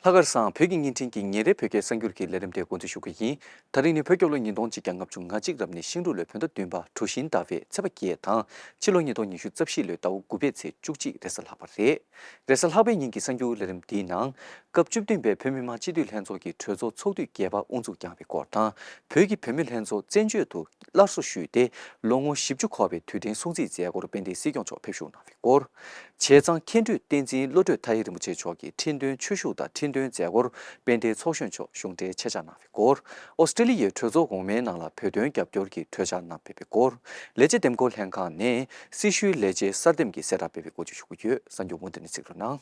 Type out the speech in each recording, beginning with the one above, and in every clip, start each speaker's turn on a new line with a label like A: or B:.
A: ལྷག་དཀར་བཟང་བོད་ཀྱི་བརྙན་འཕྲིན་གྱིས་ཉིན་རེའི་བོད་སྐད་གསར་འགྱུར་གྱི་ལས་རིམ་དེ་འགོ་འཛུགས་ཞུ་གི་ཡིན། ད་རིང་ནི་བོད་སྐྱོབ་ལོ་ཉིས་སྟོང་གཅིག་གྱ་ལྔ་བཅུ་ང་གཅིག་རབས་ནས་ཤིང་འབྲུག་ལོའི་བོད་ཟླ་བདུན་པ་གྲུ་བཞིན་ཟླ་བའི་ཚེས་པ་བརྒྱད་དང། ཕྱི་ལོ་ཉིས་སྟོང་ཉི་ཤུ་རྩ་བཞི་ལོའི་ཟླ་བ་དགུ་པའི་ཚེས་བཅུ་གཅིག་རེས་གཟའ་ལྷག་པ་རེད། རེས་གཟའ་ལྷག་པའི་ཉིན་གྱི་གསར་འགྱུར་ལས་རིམ་འདིའི་ནང། སྐབས་བཅུ་བདུན་པའི་བོད་མི་མང་སྤྱི་འཐུས་ལྷན་ཚོགས་ཀྱི་གྲོས་ཚོགས་ཚོགས་དུས་བརྒྱད་པ་དབུ་འཛུགས་བསྐྱངས་པའི་སྐོར་དང། བོད་ཀྱི་བུད་མེད་ལྷན་ཚོགས་བཙན་བྱོལ་དུ་སླར་གསོ་ཞུས་ཏེ་ལོ་ངོ་བཞི་བཅུ་འཁོར་བའི་དུས་དྲན་སྲུང་བརྩིའི་མཛད་སྒོར་དཔལ་ལྡན་སྲིད་སྐྱོང་མཆོག་ཕེབས་ཞུགས་གནང་བའི་སྐོར། སྐོར། བྱས་ཙང་མཁན་སྤྲུལ་བསྟན་འཛིན་བློ་གྲོས་ཐ་ཧེ་རིན་པོ་ཆེ་མཆོག་གི་ཁྲི་འདོན་ཆོས་ཞུགས་དང་ཁྲི་འདོན་མཛད་སྒོར་དཔལ་ལྡན་ཚོགས་གཞོན་མཆོག་གཞུང་འབྲེལ་ཆེད་བཅར་གནང་བའི་སྐོར། ཨོ་སི་ཀྲེ་ལི་ཡའི་གྲོས་ཚོགས་གོང་མའི་ནང་ལ་བོད་དོན་རྒྱབ་སྐྱོར་གྱི་གྲོས་འཆར་རྣམས་སྤེལ་བའི་སྐོར། ལས་བྱེད་འདེམས་བསྐོ་ལྷན་ཁང་ནས་སྲི་ཞུའི་ལས་བྱེད་གསར་འདེམས་ཀྱི་གསལ་བསྒྲགས་སྤེལ་བའི་སྐོར་བཅུ་བཞི་དགུ་བརྒྱུད་གསར་འགྱུར་མུ་མཐུད་ནས་གཟིགས་རོགས་གནང།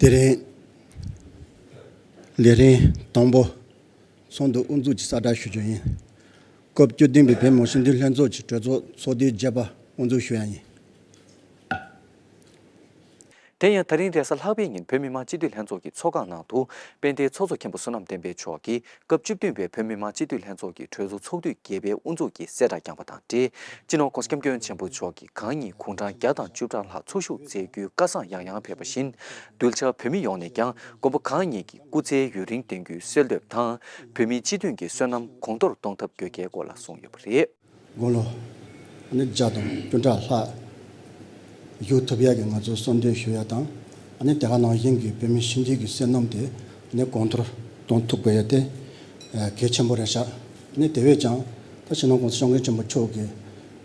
A: དེ་རིང་
B: ལས་རིམ་དང་པོ་ཚོགས་འདུ་དབུ་འཛུགས་ཀྱི་གསལ་བསྒྲགས་ཞུ་རྒྱུ་ཡིན། སྐབས་བཅུ་བདུན་པའི་བོད་མི་ཞིང་སྡེའི་ལྷན་ཚོགས་ཀྱི་གྲོས་ཚོགས་ཚོགས་དུས་བརྒྱད་པ་དབུ་འཛུགས་ཞུ་ཡ་ཡིན།
A: དེ་ཡང་ད་རིང་རེས་གཟའ་ལྷག་པའི་ཉིན་བོད་མི་མང་སྤྱི་འཐུས་ལྷན་ཚོགས་ཀྱི་ཚོགས་ཁང་ནང་དུ་དཔལ་ལྡན་ཚོགས་གཙོ་མཁན་པོ་བསོད་ནམས་བསྟན་འཕེལ་མཆོག་གིས་སྐབས་བཅུ་བདུན་པའི་བོད་མི་མང་སྤྱི་འཐུས་ལྷན་ཚོགས་ཀྱི་གྲོས་ཚོགས་ཚོགས་དུས་བརྒྱད་པའི་དབུ་འཛུགས་ཀྱི་གསལ་བསྒྲགས་བསྐྱངས་པ་དང་འབྲེལ་སྤྱི་ནོར ྋསྐྱབས་མགོན་ཆེན་པོ་མཆོག་གི་གང་ཉིད་དགུང་གྲངས་བརྒྱ་དང་བཅུ་ཕྲག་ལྷག་ཚོགས་ཞུགས་མཛད་རྒྱུའི་བཀའ་བཟང་ཡང་ཡང་ཕེབས་པ་བཞིན་གདུལ་བྱ་བོད་མི་ཡོངས་ནས་ཀྱང་མགོན་པོ་གང་ཉིད་ཀྱི་སྐུ་ཚེ་ཡུན་རིང་བརྟན་རྒྱུའི་གསོལ་འདེབས་དང་བོད་མིའི་སྤྱི་མཐུན་གྱི་བསོད་ནམས་གོང་མཐོར་གཏོང་ཐབས་དགོས་གལ་སྐོར་ལ་གསུངས་ཡོད་པ་རེད། དགུང་ལོ་
B: ནི་བརྒྱ་དང་བཅུ་ཕྲག་ལྷག་བཞུགས་ཐུབ་ཡ་གི་ང་ཚོས་གསོལ་འདེབས་ཞུ་ཡ་དང་ནི་དེ་ག་ནང་བཞིན་གྱི་བོད་མི་ཞིབ་འཇུག་གི་བསོད་ནམས་དེ་ནི་གོང་མཐོར་གཏོང་ཐུབ་དགོས་ཡ་དེ་གལ་ཆེན་པོ་རེད་ཤག་ནི་དེ་བས་ཀྱང་ད་ཕྱི་ནང་ཀུང་སི་ཤོང་མཁན་ཆེན་པོ་མཆོག་གི་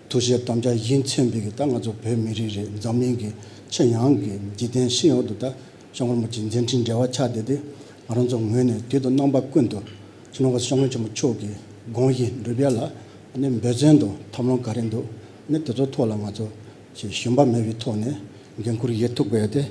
B: ཐུགས་བཞེད་དམ་བཅའ་གཞི་འཚེམ་པའི་གི་ད་ང་ཚོ་བོད་མི་རིགས་རེད་འཛམ་གླིང་གི་ཆེས་ཡང་གི་འཇིག་རྟེན་ཤི་ཡོག་ཏུ་ད། ཤོག་ངོར་མོ་ཅིག་མཛད་འཕྲིན་འབྲེལ་བ་ཆགས་བསྡད་དེ་ང་རང་ཚོ་ངོས་ནས་དུས་དང་རྣམ་པ་ཀུན་ཏུ་ཕྱི་ནང་གི་ཤོག་ངོས་ཆེན་མོ་ཕྱོགས་ཀྱི་དགོངས་གཞི་འགྲུབ་ཡ་ལ་ནི་འབོད་བརྩོན་དང་ཐབས་ལམ་ག་རེ་འདུག་གནད་དེ་ཚོའི་ཐོག་ལ་ང་ཚོ་ཞེས་ཞུམ་པ་མེད་པའི་ཐོག་ནས་འགན་འཁུར་ཡས་ཐུག་པས་དེ་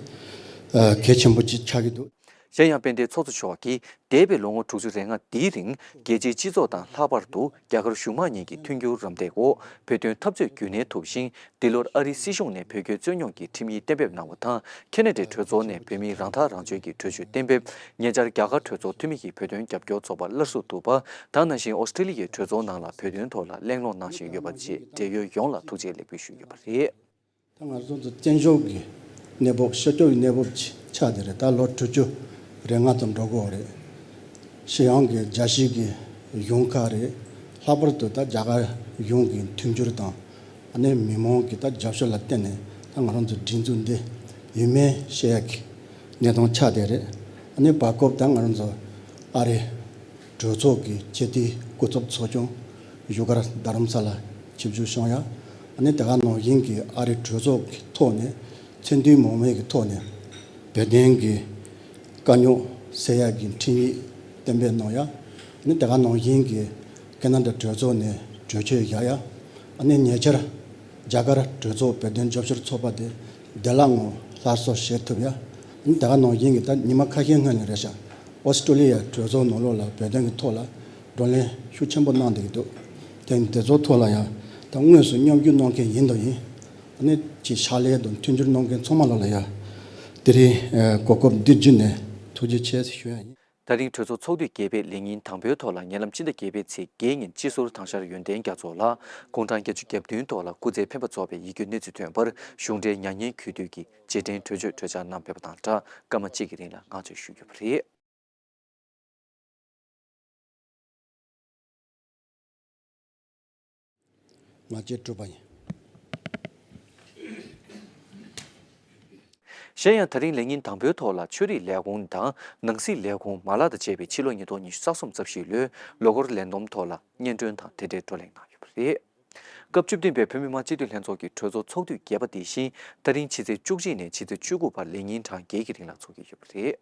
B: གལ་ཆེན་པོ་ཅིག་ཆགས་ཀྱི་འདུག། གཞན་ཡང་དཔལ་ལྡན་ཚོགས་
A: གཙོ་མཆོག་གིས་འདས་པའི་ལོ་ངོ་དྲུག་ཅུ་རེ་ལྔ་འདིའི་རིང་རྒྱལ་སྤྱིའི་སྤྱི་ཚོགས་དང་ལྷག་པར་དུ་རྒྱ་གར་གཞུང་མང་གཉིས་ཀྱི་མཐུན་འགྱུར་རམ་འདེགས་འོག་བོད་དོན་འཐབ་རྩོད་རྒྱུན་གནས་ཐུབ་ཤིང་འདི་ལོར་ཨ་རིའི་སྲིད་གཞུང་ནས་བོད་སྐྱོད་རྩོད་རྙོག་གི་ཁྲིམས་ཡིག་གཏན་འབེབས་གནང་བ་དང་ཁེ་ན་ཏྲེ་གྲོས་ཚོགས་ནས་བོད་མིའི་རང་ཐག་རང་གཅོད་ཀྱི་གྲོས་ཆོད་གཏན་འབེབས། ཉེ་ཆར་རྒྱ་གར་གྲོས་ཚོགས་འཐུས་མི་ཡིས་བོད་དོན་རྒྱབ་སྐྱོར་ཚོགས་པ་སླར་གསོ་བསྡུ་བ་དང་ནང་བཞིན་ཨོ་སི་ཀྲི་ལི་ཡའི་གྲོས་ཚོགས་ནང་ལ་བོད་དོན་ཐོག་ལ་གླེང་སློང་གནང་བཞིན་ཡོད་པ་བཅས་འབྲེལ་ཡོད་ཡོངས་ལ་ཐུགས་རྗེ་ལེགས་འབུལ་ཞུས་ཡོད་པ་རེད། ད་ང་ཚོ་ཚོ་
B: བཙན་བྱོལ་གྱི་གནས་བབ་ཤར་ཕྱོགས་ཀྱི་གནས་བབ་ཆགས་དེ་རེད་ད་ལོ་དྲུག་ཅུ་རེ་ལྔ་ཙམ་འགྲོ་དགོས་རེད། ཤི་ཡང་གི་རྒྱ་གཞིས་ཀྱི་གཞུང་ཁག་རེད་ལྷག་པར་དུ་ད་རྒྱ་གར་གཞུང་གི་མཐུན་འགྱུར་དང་ནི་མི་མང་གི་ད་རྒྱབ་ཤོར་ལ་བརྟེན་ནས་ད་ང་རང་ཚོའི་སྒྲིག་འཛུགས་འདི་ཡུན་མེད་ཤེས་ཡག་གི་གནས་སྟངས་ཆགས་དེ་རེད་ནི་བར་སྐབས་ད་ང་རང་ཚོ་ཨ་རི་གྲོས་ཚོགས་ཀྱི་ཆེད་དུ་སྐུ་ཚབ་ཚོགས་ཆུང་བཞུགས་སྒར་རྡ་རམ་ས་ལ་ཆིབས་བཞུགས་ཤོང་ཡ་ནི་དེ་ག་ནང་བཞིན་གྱི་ཨ་རི་གྲོས་ཚོགས་ཀྱི་ཐོག་ནས་མཚན་མཐུན་མོང་མེད་ཀྱི་ཐོག་ནས་བོད་དོན་གྱི་དཀའ་རྙོག་སེལ་ཡ་གྱི་འཕྲིན་ཡིག་གཏན་འབེབས་གནང་ཡ་ནི་དེ་ག་ནང་བཞིན་གྱི་ཀེ་ན་ད་གྲོས་ཚོགས་ནས་གྲོས་ཆོད་བཞག་ཡ་ནི་ཉེ་ཆར་རྒྱ་གར་གྲོས་ཚོགས་བོད་དོན་ཞབས་ཞུར་ཚོགས་པ་དེ་བདེ་བླག་ངང་སླར་གསོ་བྱེད་ཐུབ་ཡ། ཉིན་དེའང་ནང་བཞིན་གྱི་ལྟར་ཉི་མ་ཁ་ཤས་སྔོན་ནས་རེད་ཤག་ཨོ་སི་ཀྲོ་ལི་ཡའི་གྲོས་ཚོགས་ནང་ལོགས་ལ་བོད་དོན་གྱི་ཐོག་ལ་བགྲོ་གླེང་ཤུགས་ཆེན་པོ་གནང་བསྡད་ཀྱི་འདུག་དེ་དེ་ཚོ་ཐོག་ལ་ཡང་ད་དངོས་སུ་མཉམ་རྒྱུ་གནང་མཁན་ཡིན་དང་ཡིན། ནས་ཀྱི་ཕྱག་ལས་དང་མཐུན་འགྱུར་གནང་མཁན་ཚང་མ་ལ་ལ་ཡང་དེ་རིང་གོ་སྐབས་འདི་བརྒྱུད་ནས་ཐུགས་རྗེ་ཆེ་ཞུ་ཡ་ཡིན། ད་རིང་གྲོས་ཚོགས་ཚོགས་
A: དུས་བརྒྱད་པའི་ལས་ཉིན་དང་པོའི་ཐོག་ལ་ཉེ་ལམ་སྤྱི་ཟླ་བརྒྱད་པའི་ཚེས་བརྒྱད་ཉིན་སྤྱི་ཟུར་ཐང་ཤར་ཡོན་ཏན་རྒྱ་མཚོ་ལགས་དགུང་གྲངས་བརྒྱད་ཅུ་གྱ་བདུན་ཐོག་ལ་སྐུ་ཚེ་འཕེན་པ་རྫོགས་པའི་ཡིད་སྐྱོ་གནས་ཚུལ་ཐོན་པར་གཞུང་འབྲེལ་མྱ་ངན་གུས་འདུད་ཀྱི་རྗེས་དྲན་གྲོས་ཆོད་གྲོས་འཆར་རྣམས་ཕེབས་པ་དང་སྦྲགས་སྐར་མ་གཅིག་གི་རིང་ལ་བསྔགས་བརྗོད་ཞུ་རྒྱུ་བ་རེད།
B: ང་རྒྱལ་སྤྲོས་པ་ཡིན། གཞན་
A: ཡང་ད་རིང་ལས་ཉིན་དང་པོའི་ཐོག་ལ་ཆོས་རིག་ལས་ཁུངས་དང་ནང་སྲིད་ལས་ཁུངས་མ་ལག་དང་བཅས་པས་ཕྱི་ལོ་ཉིས་སྟོང་ཉི་ཤུ་རྩ་གསུམ་རྩ་བཞི་ལོའི་ལོ་འཁོར་ལས་བསྡོམས་ཐོག་ལ་སྙན་སྒྲོན་དང་དེ་འབྲེལ་བགྲོ་གླེང་གནང་ཡོད་པ་རེད། སྐབས་བཅུ་བདུན་པའི་བོད་མི་མང་སྤྱི་འཐུས་ལྷན་ཚོགས་ཀྱི་གྲོས་ཚོགས་ཚོགས་དུས་བརྒྱད་པ་འདི་བཞིན་ད་རིང་ཕྱི་ཚེས་བཅུ་གཅིག་ནས་ཕྱི་ཚེས་བཅུ་དགུ་བར་ལས་ཉིན་གྲངས་བརྒྱད་ཀྱི་རིང་ལ་ཚོགས་ཀྱི་ཡོད་པ་རེད།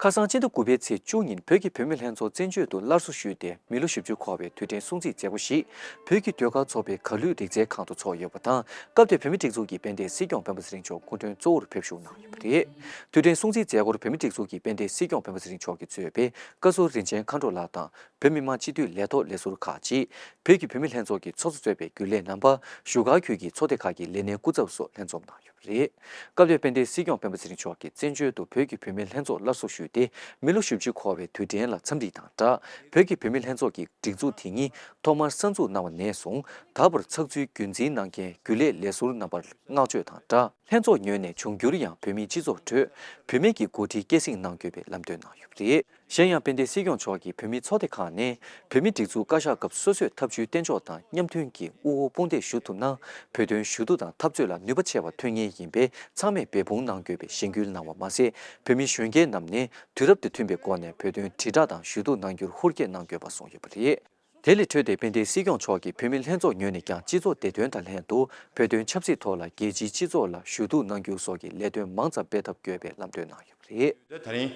A: ཁ་སང་སྤྱི་ཟླ་དགུ་པའི་ཚེས་བཅུ་ཉིན་བོད་ཀྱི་བུད་མེད་ལྷན་ཚོགས་བཙན་བྱོལ་དུ་སླར་གསོ་ཞུས་ཏེ་མི་ལོ་བཞི་བཅུ་འཁོར་བའི་དུས་དྲན་སྲུང་བརྩི་མཛད་སྒོ་ཞིག་བོད་ཀྱི་ཟློས་གར་ཚོགས་པའི་གར་གླུད་རིག་རྩལ་ཁང་དུ་ཚོགས་ཡོད་པ་དང་སྐབས་དེར་བུད་མེད་སྒྲིག་འཛུགས་ཀྱི་དཔལ་ལྡན་སྲིད་སྐྱོང་སྤེན་པ་ཚེ་རིང་མཆོག་སྐུ་མགྲོན་གཙོ་བོར་ཕེབས་བཞུགས་གནང་ཡོད་པ་རེད། དུས་དྲན་སྲུང་བརྩིའི་མཛད་སྒོར་བུད་མེད་སྒྲིག་འཛུགས་ཀྱི་དཔལ་ལྡན་སྲིད་སྐྱོང་སྤེན་པ་ཚེ་རིང་མཆོག་གི་གཙོས་པའི་བཀའ་ཟུར་རིན་ཆེན་མཁའ་འགྲོ་ལགས་དང་བོད་མི་མང་སྤྱི་འཐུས་ལས་ཐོག་ལས་ཟུར་ཁག་ཅིག་བོད་ཀྱི་བུད་མེད་ལྷན་ཚོགས་ཀྱི་ཚོགས་གཙོ་གཙོས་པའི་རྒྱུན་ལས་རྣམ་པ། བཞུགས་སྒར་ཁུལ་གྱི་ཚོགས་སྡེ་ཁག་གི་ལས་སྣེ་སྐུ་ཚབ་སོགས་ལྷན་འཛོམས་གནང་ཡོད། རེད། སྐབས་དེར་དཔལ་ལྡན་སྲིད་སྐྱོང་སྤེན་པ་ཚེ་རིང་མཆོག་གིས་བཙན་བྱོལ་དུ་བོད་ཀྱི་བུད་མེད་ལྷན་ཚོགས་སླར་གསོ་ཞུས་ཏེ་མི་ལོ་བཞི་བཅུ་འཁོར་བའི་དུས་དྲན་ལ་འཚམས་འདྲི་དང་སྦྲགས་བོད་ཀྱི་བུད་མེད་ལྷན་ཚོགས་ཀྱི་སྒྲིག་འཛུགས་དེ་ཉིད་ཐོག་མར་གསར་འཛུགས་གནང་བ་ནས་བཟུང་ད་བར་ཚགས་ཚུད་རྒྱུན་འཛིན་གནང་མཁན་རྒྱུན་ལས་ལས་ཟུར་རྣམ་པར་བསྔགས་བརྗོད་དང་སྦྲགས། ལྷན་ཚོགས་ཉོས་ནས་འབྱུང་འགྱུར་ཡང་བོད་མིའི་སྤྱི་ཚོགས་ཁྲོད་བུད་མེད་ཀྱི་འགོ་ཁྲིད་སྐྱེད་སྲིང་གནང་དགོས་པའི་ལམ་སྟོན་གནང་ཡོད་པ་རེད། གཞན་ཡང་དཔལ་ལྡན་སྲིད་སྐྱོང་མཆོག་གིས་བོད་མིའི་ཚོགས་སྡེ་ཁག་ནས་བོད་མིའི་སྒྲིག་འཛུགས་བཀའ་ཤག་སྐབས་སོ་སོས་ཐབས་ཇུས་གཏན་འཇོག་དང་མཉམ་མཐུན་གྱིས་དབུ་འོག་དཔུང་འདེགས་ཞུ་ཐུབ་ན་བོད་དོན་ཞུ་གཏུག་དང་འཐབ་རྩོད་ལ་ནུས་པ་ཆེ་བ་ཐོན་ངེས་ཡིན་པས་ཚང་མས་འབད་འབུངས་གནང་དགོས་པའི་གཞེན་སྐུལ་གནང་བ་མ་ཟད་བོད་མི་གཞོན་སྐྱེས་རྣམས་ནས་དུས་རབས་དེ་མཐུན་པའི་སྒོ་ནས་བོད་དོན་དྲིལ་བསྒྲགས་དང་ཞུ་གཏུག་གནང་རྒྱུར་ཧུར་བསྐྱེད་གནང་དགོས་པ་གསུངས་ཡོད་པ་རེད། དེ་ལས་འཕྲོས་ཏེ་དཔལ་ལྡན་སྲིད་སྐྱོང་མཆོག་གིས་བུད་མེད་ལྷན་ཚོགས་ཉོས་ནས་ཀྱང་སྤྱི་ཚོགས་བདེ་དོན་དང་ལྷན་དུ་བོད་དོན་ཆབ་སྲིད་ཐོག་ལ་རྒྱལ་སྤྱིའི་སྤྱི་ཚོགས་ལ་ཞུ་གཏུག་གནང་རྒྱུ་སོགས་ཀྱི་ལས་དོན་མང་ཙམ་སྤེལ་ཐབས་དགོས་པའི་ལམ་སྟོན་གནང་ཡོད་པ་རེད། ད་
C: ཐེངས་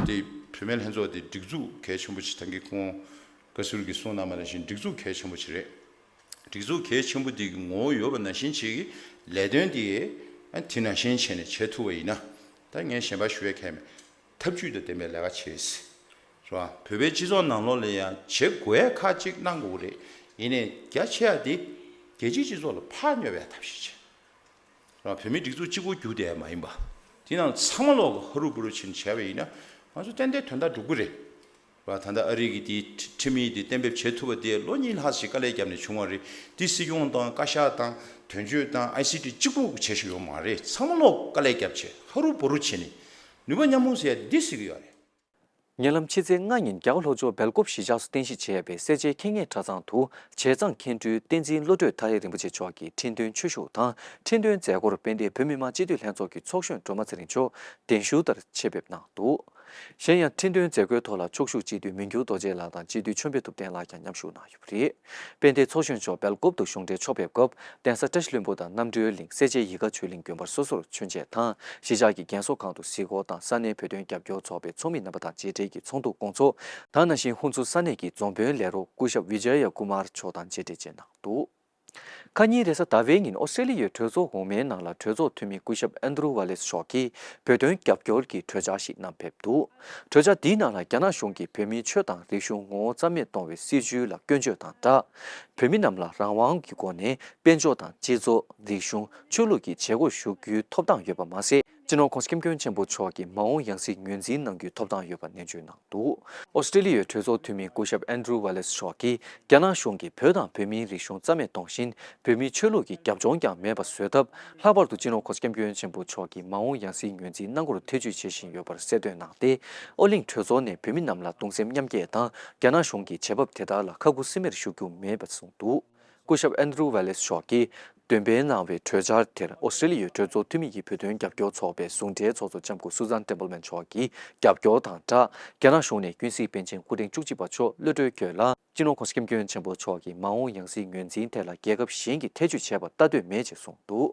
C: འདི་བུད་མེད་ལྷན་ཚོགས་འདི་སྒྲིག་འཛུགས་གལ་ཆེན་པོ་ཆེ་ཐང་གིས་ཁོང་བཀའ་ཟུར་གྱིས་གསུངས་གནང་བ་ནང་བཞིན་སྒྲིག་འཛུགས་གལ་ཆེན་པོ་ཆེ་རེད། སྒྲིག་འཛུགས་གལ་ཆེན་པོ་འདི་གི་ངོ་བོ་ཡོད་པ་ནང་བཞིན་བྱེད་ཀྱི་ལས་དོན་དེ་དེ་ནང་བཞིན་བྱས་ནས་བྱེད་ཐུབ་པ་ཡིན་ན་ད་ངས་གཞན་པར་ཞུ་བའི་ཁྱད་མེད། འཐབ་ཇུས་དང་ལྡན་པའི་ལས་ཀ་བྱེད་ཨེ་སྲིད། བཟོ་ཨ། བོད་པའི་སྤྱི་ཚོགས་ནང་ལོག་ལེན་ཡང་བྱེད་དགོས་ཡས་ཁག་གཅིག་གནང་དགོས་རེད། ཡིན་ནས་རྒྱ་ཆེ་ཡ་དེ། རྒྱལ་སྤྱིའི་སྤྱི་ཚོགས་ལ་ཕར་སྨྱོ་བའི་ཐབས་ཤེས་བྱེད། བཟོ་ཨ། བོད་མི་སྒྲིག་འཛུགས་གཅིག་པོ་རྒྱུགས་དེ་མ་ཡིན་པ། དེ་ནང་ཚང་མ་ལོག་གི་ཧ་རུ་བུ་རུ་བྱེད་ནས་བྱས་པ་ཡིན་ན། ང་ཚོ་ཏན་ཏན་དོན་དག་འགྲུབ་གི་རེད། ལ་ད་ལྟ་ཨ་རིག་གིས་དེའི་ཁྲིམས་ཡིག་དེ་གཏན་འབེབས་བྱེད་ཐུབ་པ་དེ་ལོ་གཉིས་ལྷག་ཞིག་དཀའ་ལས་བརྒྱབ་ནས་བྱུང་བ་རེད། དེ་སྲིད་སྐྱོང་དང་བཀའ་ཤག་དང་དོན་གཅོད་དང་ཨའི་སི་ཀྲི་གཅིག་པུ་བྱེད་ཤེས་ཡོད་མ་རེད་ཚང་མ་ལོག་དཀའ་ལས་བརྒྱབ་ཆེད་ཧ་རུ་བོ་རུ་བྱེད་ནས་ནུས་པ་མཉམ་སྤུངས་ཟེར་ཡ་འདི་སྲིད་ཀྱི་ཡོ་རེད། ཉེ་ལམ་
A: ཕྱི་ཚེས་ལྔ་ཉིན་རྒྱ་གར་ལྷོ་ཕྱོགས་སྦེལ་ཀོབ་གཞིས་ཆགས་སུ་རྟེན་གཞི་བྱས་པའི་སེར་བྱེས་ཁེ་ངེ་གྲྭ་ཚང་དུ་བྱས་ཙང་མཁན་སྤྲུལ་བསྟན་འཛིན་བློ་གྲོས་ཐ་ཧེ་རིན་པོ་ཆེ་མཆོག་གི་ཁྲི་འདོན་ཆོས་ཞུགས་དང་ཁྲི་འདོན་མཛད་སྒོར་དཔལ་ལྡན་བོད་མི་མང་སྤྱི་འཐུས་ལྷན་ཚོགས་ཀྱི་ཚོགས་གཞོན་སྒྲོལ་མ་ཚེ་རིང་མཆོག་གདན་ཞུ་ལྟར་ཆེད་ཕེབས་གནང་འདུག་གཞན་ཡང་ཁྲི་འདོན་མཛད་སྒོའི་ཐོག་ལ་ཕྱོགས་བཞུགས་སྤྱི་འཐུས་མི་འགྱུར་རྡོ་རྗེ་ལགས་དང་སྤྱི་འཐུས་ཆོས་འཕེལ་ཐུབ་བསྟན་ལགས་ཀྱང་མཉམ་ཞུགས་གནང་ཡོད་པ་རེད། དཔལ་ལྡན་ཚོགས་གཞོན་མཆོག་སྦེལ་ཀོབ་ཏུ་གཞུང་འབྲེལ་ཕྱོགས་ཕེབས་སྐབས་གདན་ས་བཀྲ་ཤིས་ལྷུན་པོ་དང་རྣམ་གྲོལ་གླིང་གསལ་བྱེད་ཡིད་དགའ་ཆོས་གླིང་དགོན་པར་སོ་སོར་མཆོད་མཇལ་དང་གཞིས་ཆགས་ཀྱི་རྒན་གསོ་ཁང་དུ་གཟིགས་སྐོར་དང་ས་གནས་བོད་དོན་རྒྱབ་སྐྱོར་ཚོགས་པའི་ཚོགས་མི་རྣམ་པ་དང་མཇལ་འཕྲད་ཀྱིས་ཚོགས་འདུ་སྐོང་ཚོགས་དང་ནང་བཞིན་ཧུན་སུར་ས་གནས་ཀྱི་རྫོང་དཔོན་ལས་རོགས་སྐུ་ཞབས Vijaya Kumar མཆོག་དང་མཇལ་འཕྲད་བཅས་གནང་འདུག། ཁ་ཉིན་རེས་གཟའ་ཟླ་བའི་ཉིན་ཨོ་སི་ཏྲེ་ལི་ཡའི་གྲོས་ཚོགས་དབུ་མའི་ནང་ལ་གྲོས་ཚོགས་འཐུས་མི་སྐུ་ཞབས་ཨན་དྲུ་ཝ་ལེ་སི་མཆོག་གིས་བོད་དོན་རྒྱབ་སྐྱོར་གྱི་གྲོས་འཆར་ཞིག་བསྣམས་ཕེབས་འདུག་གྲོས་འཆར་འདིའི་ནང་ལ་རྒྱ་ནག་གཞུང་གིས་བོད་མིའི་ཆོས་དང་རིག་གཞུང་ངོ་བོ་རྩ་མེད་གཏོང་བའི་སྲིད་བྱུས་ལ་སྐྱོན་བརྗོད་དང་སྦྲགས། བོད་མི་རྣམས་ལ་རང་དབང་གི་སྒོ་ནས་དཔལ་འབྱོར་དང་སྤྱི་ཚོགས། རིག་གཞུང། ཆོས་ལུགས་ཀྱི་བྱེད་སྒོར་ཞུགས་རྒྱུའི་ཐོབ་ཐང་ཡོད་པ་མ་ཟད། སྤྱི་ནོར་ཁོང་སྐྱབས་མགོན་ཆེན་པོ་མཆོག་གིས་མ་འོངས་ཡང་སྲིད་ངོས་འཛིན་གནང་རྒྱུའི་ཐོབ་ཐང་ཡོད་པ་ནན་བརྗོད་གནང་འདུག་ཨོ་སི་ཀྲེ་ལི་ཡའི་གྲོས་ཚོགས་འཐུས་མི་སྐུ་ཞབས་ཨན་ཀྲུའུ་ཝེ་ལེ་སི་མཆོག་གིས་རྒྱ་ནག་གཞུང་གིས་བོད་དང་བོད་མིའི་རིག་གཞུང་རྩ་མེད་གཏོང་བཞིན་བོད་མིའི་ཆོས་ལུགས་ཀྱི་རྒྱབ་ལྗོངས་ཀྱང་མེད་པ་བཟོས་སྟབས་ལྷག་པར་དུ་སྤྱི་ནོར་ཁོང་སྐྱབས་མགོན་ཆེན་པོ་མཆོག་གིས་མ་འོངས་ཡང་སྲིད་ངོས་འཛིན་གནང་སྐོར་ཐེ་བྱུས་བྱེད་བཞིན་ཡོད་པར་གསལ་འདོན་གནང་སྟེ་ཨོ་གླིང་གྲོས་ཚོགས་ནས་བོད་མི་རྣམས་ལ་གདུང་སེམས་མཉམ་སྐྱེད་དང་རྒྱ་ནག་གཞུང་གི་བྱེད་བབ་དེ་དག་ལ་ཁ་ཁུ་སིམ་མེར་བཞུགས་རྒྱུ་མེད་པ་གསུངས་འདུག། སྐུ་ཞབས་ཨན་རུ་ཝེ་ལེས་མཆོག་གིས་འདོན་སྤེལ་གནང་བའི་གྲོས་འཆར་དེར་ཨོ་སི་ཏྲེ་ལི་ཡའི་གྲོས་ཚོགས་འཐུས་མི་ཡི་བོད་དོན་རྒྱབ་སྐྱོར་ཚོགས་པའི་ཟུང་འབྲེལ་ཚོགས་གཙོ་ལྕམ་སྐུ་སུ་ཛན་ཏེམ་པལ་མན་མཆོག་གིས་རྒྱབ་སྐྱོར་དང་སྦྲགས་རྒྱ་ནག་གཞུང་ནས་ཀུན་གཟིགས་པཎ་ཆེན་སྐུ་ཕྲེང་བཅུ་གཅིག་པ་མཆོག་གློད་གྲོལ་བསྐྱོད་ལ། སྤྱི་ནོར་ཁོང་སྐྱབས་མགོན་ཆེན་པོ་མཆོག་གིས་མ་འོངས་ཡང་སྲིད་ངོས་འཛིན་ཐད་ལ་རྒྱལ་ཁབ་གཞན་གྱིས་ཐེ་ཇུས་བྱས་པར་ལྟ་འདོད་མེད་ཅེས་གསུངས་འདུག།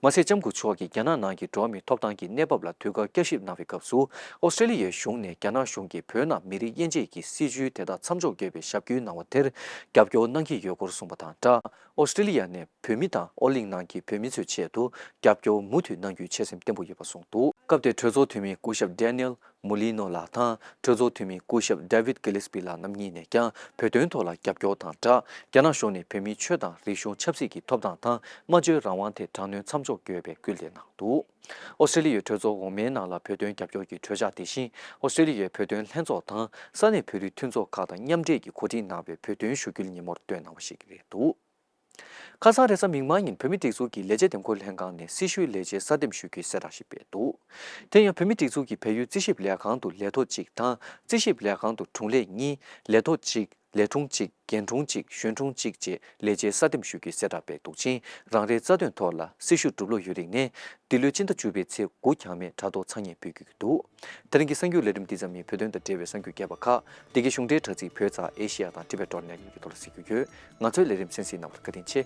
A: མ་ཟད་ལྕམ་སྐུ་མཆོག་གིས་རྒྱ་ནག་ནང་གི་འགྲོ་བ་མིའི་ཐོབ་ཐང་གི་གནས་བབ་ལ་དུས་བཀག་བསྐྱར་ཞིབ་གནང་བའི་སྐབས་སུ་ཨོ་སི་ཀྲེ་ལི་ཡའི་གཞུང་ནས་རྒྱ་ནག་གཞུང་གིས་བོད་ནང་མི་རིགས་དབྱེ་འབྱེད་ཀྱི་སྲིད་བྱུས་དེ་དག་མཚམས་འཇོག་དགོས་པའི་ཞབས་སྐུལ་གནང་བ་དེར་རྒྱབ་སྐྱོར་གནང་གི་ཡོད་སྐོར་གསུངས་པ་དང་སྦྲགས་ཨོ་སི་ཀྲེ་ལི་ཡ་ནས་བོད་མི་དང་ཨོ་གླིང་ནང་གི་བོད་མི་ཚོའི་ཆེད་དུ་རྒྱབ་སྐྱོར་མུ་མཐུད་གནང་རྒྱུའི་ཆེད་སེམས་བརྟན་པོ་ཡོད་པ་གསུངས་འདུག། སྐབས་དེར་གྲོས་ཚོགས་འཐུས་མི་སྐུ་ཞབས Daniel མུ་ལི་ནོ་ལགས་དང་གྲོས་ཚོགས་འཐུས་མི་སྐུ་ཞབས David Gillespie ལགས་རྣམ་གཉིས་ནས་ཀྱང་བོད་དོན་ཐོག་ལ་རྒྱབ་སྐྱོར་དང་སྦྲགས་རྒྱ་ནག་གཞུང་ནས་བོད་མིའི་ཆོས་དང་རིག་གཞུང་ཆབ་སྲིད་ཀྱི་ཐོབ་ཐང་དང་སྨྲ་བརྗོད་རང་དབང་ཐད་དྲག་གནོན་མཚམས་འཇོག་དགོས་པའི་སྐུལ་འདེད་གནང་འདུག་ཨོ་སྟྲེ་ལི་ཡའི་གྲོས་ཚོགས་འོག་མའི་ནང་ལ་བོད་དོན་རྒྱབ་སྐྱོར་གྱི་གྲོས་འཆར་དེ་བཞིན་ཨོ་སྟྲེ་ལི་ཡའི་བོད་དོན་ལྷན་ཚོགས་དང་ས་གནས་བོད་རིགས་མཐུན་ཚོགས་ཁག་དང་མཉམ་འབྲེལ་གྱིས་གོ་སྒྲིག་གནང་བའི་བོད་དོན་ཞུ་སྐུལ་ཉིན་མོར་བཏོན་གནང་བ་ཞིག་རེད་འདུག། ཁ་སང་རེས་གཟའ་མིག་དམར་ཉིན་བོད་མི་སྒྲིག་འཛུགས་ཀྱི་ལས་བྱེད་འདེམས་བསྐོ་ལྷན་ཁང་ནས་སྲི་ཞུའི་ལས་བྱེད་གསར་འདེམས་ཞུ་རྒྱུའི་གསལ་བསྒྲགས་ཤིག་སྤེལ་འདུག་དེ་ཡང་བོད་མི་སྒྲིག་འཛུགས་ཀྱི་བལ་ཡུལ་རྩིས་ཞིབ་ལས་ཁང་དུ་ལས་ཐོག་གཅིག་དང་རྩིས་ཞིབ་ལས་ཁང་དུ་དྲུང་ལས་གཉིས་ལས་ཐོག་གཅིག་ལས་དྲུང་གཅིག་རྒན་དྲུང་གཅིག་གཞོན་དྲུང་གཅིག་བཅས་ལས་བྱེད་གསར་འདེམས་ཞུ་རྒྱུའི་གསལ་བསྒྲགས་སྤེལ་འདུག་ཅིང་རང་རེའི་རྩ་དོན་ཐོག་ལ་སྲི་ཞུ་སྒྲུབ་ལོ་ཡོད་རིགས་ནས་འདི་ལོའི་སྤྱི་ཟླ་བཅུ་པའི་ཚེས་དགུ་གྱང་མེད་དྲ་ཐོག་འཚང་སྙན་འབུལ་རྒྱུ་འདུག། དེ་རིང་གི་གསར་འགྱུར་ལས་རིམ་འདི་ཙམ་ནི་བོད་དོན་དང་འབྲེལ་བའི་གསར་འགྱུར་རྒྱས་པ་ཁག་བདེ་སྐྱིད་གཞུང་འབྲེལ་དྲ་ཚིགས་བོད་ཚགས་ཨེ་ཤེ་ཡ་དང་ཏིབ་པེ་ཏྲོར་ནས་ཡིན་པའི་ཐོག་ལ་གཟིགས་རྒྱུ་ཡོད། ང་ཚོའི་ལས་རིམ་གསན་གཟིགས་གནང་བར་བཀའ་དྲིན་ཆེ།